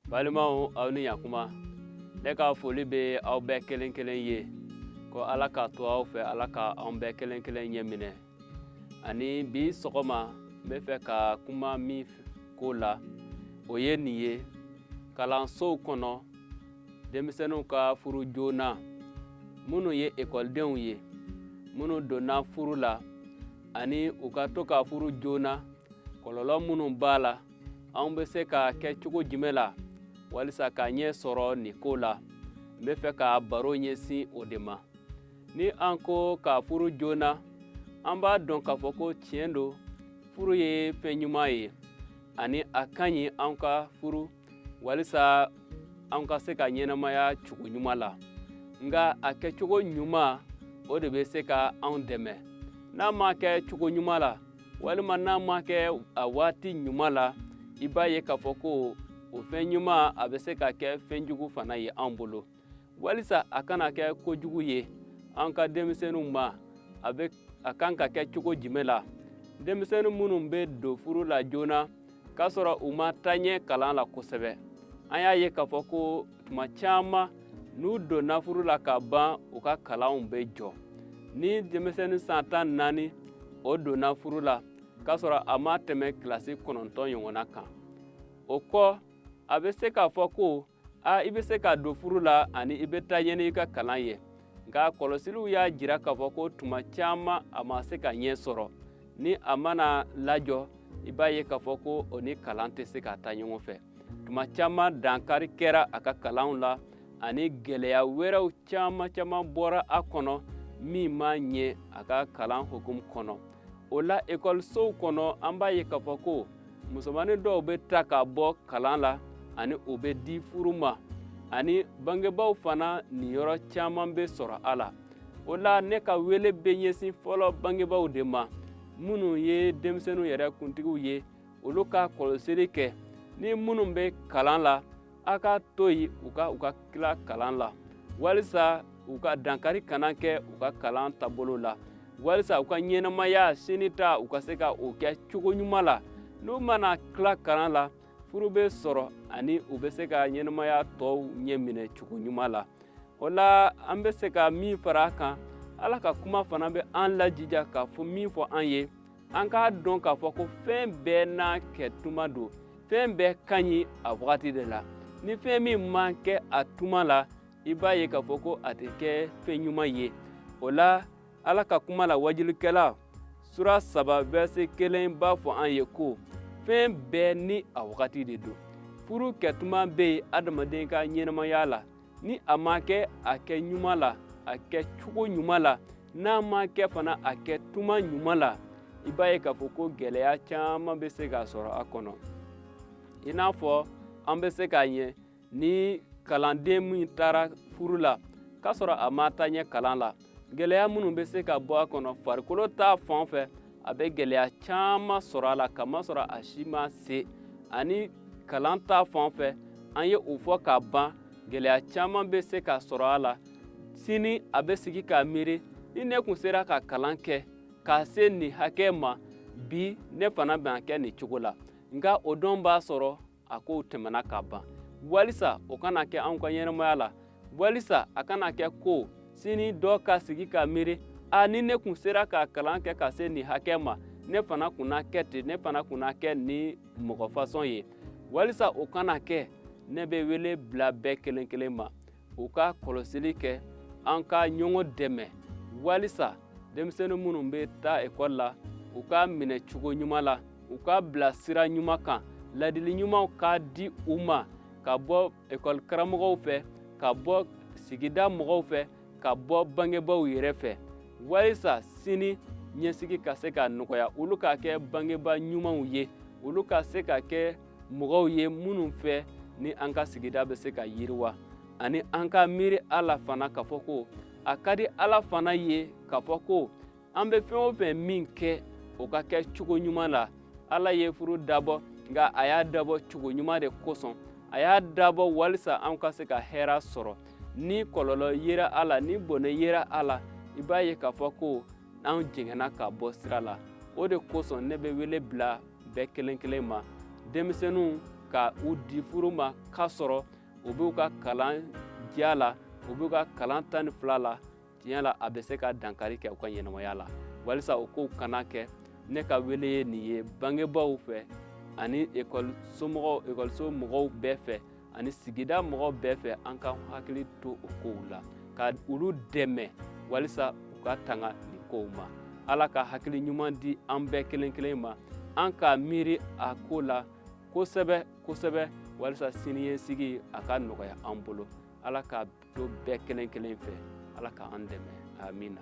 balimaw aw ni ɲakuma ne ka foli bɛ aw bɛɛ kelen kelen ye ko ala ka to aw fɛ ala ka an bɛɛ kelen kelen ɲɛ minɛ ani bi sɔgɔma n bɛ fɛ ka kuma min ko la o ye nin ye kalansow kɔnɔ denmisɛnninw ka furu joona minnu ye ekɔlidenw ye minnu donna furu la ani u ka to ka furu joona kɔlɔlɔ minnu b'a la an bɛ se k'a kɛ cogo jumɛn la walisa k'a ɲɛ sɔrɔ nin ko la n bɛ fɛ ka baro ɲɛsin o de ma ni an ko ka furu joona an b'a dɔn k'a fɔ ko tiɲɛ don furu ye fɛn ɲuman ye ani a ka ɲi an ka furu walisa an ka se ka ɲɛnamaya cogo ɲuman la nka a kɛcogo ɲuman o de bɛ se ka an dɛmɛ n'a ma kɛ cogo ɲuman la walima n'a ma kɛ a waati ɲuman la i b'a ye k'a fɔ ko o fɛn ɲuman a bɛ se ka kɛ fɛn jugu fana ye an bolo walisa a kana kɛ kojugu ye an ka denmisɛnninw ma a ka kan ka kɛ cogo jumɛn la denmisɛnnin minnu bɛ don furu la joona k'a sɔrɔ u ma taa ɲɛ kalan la kosɛbɛ an y'a ye k'a fɔ ko tuma caman n'u donna furu la ka ban u ka kalanw bɛ jɔ ni denmisɛnnin san tan naani o donna furu la k'a sɔrɔ a ma tɛmɛ kilasi kɔnɔntɔn ɲɔgɔnna kan o kɔ a bɛ se k'a fɔ ko a i bɛ se ka don furu la ani i bɛ taa ɲɛ n'i ka kalan ye nka kɔlɔsiliw y'a jira k'a fɔ ko tuma caman a ma se ka ɲɛ sɔrɔ ni a mana lajɔ i b'a ye k'a fɔ ko o ni kalan tɛ se ka taa ɲɔgɔn fɛ tuma caman dankari kɛra a ka kalanw la ani gɛlɛya wɛrɛw caman caman bɔra a kɔnɔ min ma ɲɛ a ka kalan hukumu kɔnɔ o la ekɔlisow kɔnɔ an b'a ye k'a fɔ ko musomanin dɔw bɛ ta ka bɔ kalan la ani o bɛ di furu ma ani bangebaaw fana niyɔrɔ caman bɛ sɔrɔ a la o la ne ka wele bɛ ɲɛsin fɔlɔ bangebaaw de ma minnu ye denmisɛnninw yɛrɛ kuntigiw ye olu ka kɔlɔsili kɛ ni minnu bɛ kalan la aw k'a to yen u ka u ka tila kalan la walisa u ka dankari kana kɛ u ka kalan taabolo la walisa u ka ɲɛnamaya sini ta u ka se ka o kɛ cogo ɲuman la n'u mana tila kalan la furu bɛ sɔrɔ ani u bɛ se ka ɲɛnamaya tɔw ɲɛ minɛ cogo ɲuman la o la an bɛ se ka min fara a kan ala ka kuma fana bɛ an lajija k'a fɔ min fɔ an ye an k'a dɔn k'a fɔ ko fɛn bɛɛ n'a kɛ tuma don fɛn bɛɛ ka ɲi a wagati de la ni fɛn min man kɛ a tuma la i b'a ye k'a fɔ ko a tɛ kɛ fɛn ɲuman ye o la ala ka kuma la wajulikɛla sura saba vɛrse kelen b'a fɔ an ye ko fɛn bɛɛ ni a wagati de don furu kɛtuma bɛ yen adamaden ka ɲɛnamaya la ni a ma kɛ a kɛ ɲuman la a kɛ cogo ɲuman la n'a ma kɛ fana a kɛ tuma ɲuman la i b'a ye k'a fɔ ko gɛlɛya caman bɛ se ka sɔrɔ a kɔnɔ i n'a fɔ an bɛ se k'a ɲɛ ni kalanden min taara furu la k'a sɔrɔ a ma taa ɲɛ kalan la gɛlɛya minnu bɛ se ka bɔ a kɔnɔ farikolo ta fan fɛ a bɛ gɛlɛya caman sɔrɔ a la kamasɔrɔ a si ma se ani kalan ta fan fɛ an ye o fɔ ka ban gɛlɛya caman bɛ se ka sɔrɔ a la sini a bɛ sigi ka miiri ni ne kun sera ka kalan kɛ ka se nin hakɛ ma bi ne fana bɛna kɛ nin cogo la nka o don b'a sɔrɔ a kow tɛmɛna ka ban walisa o kana kɛ anw ka ɲɛnamaya la walisa a kana kɛ ko sini dɔ ka sigi ka miiri a ni ne kun sera ka kalan kɛ ka se nin hakɛ ma ne fana kun na kɛ ten ne fana kun na kɛ nin mɔgɔ fasɔn ye walisa o kana kɛ ne bɛ wele bila bɛɛ kelen kelen ma u ka kɔlɔsili kɛ an ka ɲɔgɔn dɛmɛ walisa denmisɛnnin minnu bɛ taa ekɔli la u ka minɛ cogo ɲuman la u ka bila sira ɲuman kan ladili ɲumanw ka di u ma ka bɔ ekɔli karamɔgɔw fɛ ka bɔ sigida mɔgɔw fɛ ka bɔ bangebaaw yɛrɛ fɛ walisa sini ɲɛsigi ka se ka nɔgɔya olu ka kɛ bangebaa ɲumanw ye olu ka se ka kɛ mɔgɔw ye minnu fɛ ni an ka sigida bɛ se ka yiriwa ani an ka miiri a la fana k'a fɔ ko a ka di ala fana ye k'a fɔ ko an bɛ fɛn o fɛn min kɛ o ka kɛ cogo ɲuman la ala ye furu dabɔ nka a y'a dabɔ cogo ɲuman de kosɔn a y'a dabɔ walisa an ka se ka hɛra sɔrɔ ni kɔlɔlɔ yera a la ni bɔnɛ yera a la i b'a ye k'a fɔ ko an jɛngɛnna ka bɔ sira la o de kosɔn ne bɛ wele bila bɛɛ kelen kelen ma denmisɛnninw ka u di furu ma k'a sɔrɔ u b'u ka kalan diya la u b'u ka kalan tan ni fila la tiɲɛ la a bɛ se ka dankari kɛ u ka ɲɛnamaya la walisa o kow kana kɛ ne ka wele ye nin ye bangebaaw fɛ ani ekɔliso mɔgɔw bɛɛ fɛ ani sigida mɔgɔw bɛɛ fɛ an ka hakili to o kow la ka olu dɛmɛ walisa u ka tanga nin kow ma ala ka hakili ɲuman di an bɛɛ kelen kelen ma an ka miiri a ko la kosɛbɛ kosɛbɛ walisa siniɲɛsigi a ka nɔgɔya an bolo ala ka to bɛɛ kelen kelen fɛ ala k'an dɛmɛ amina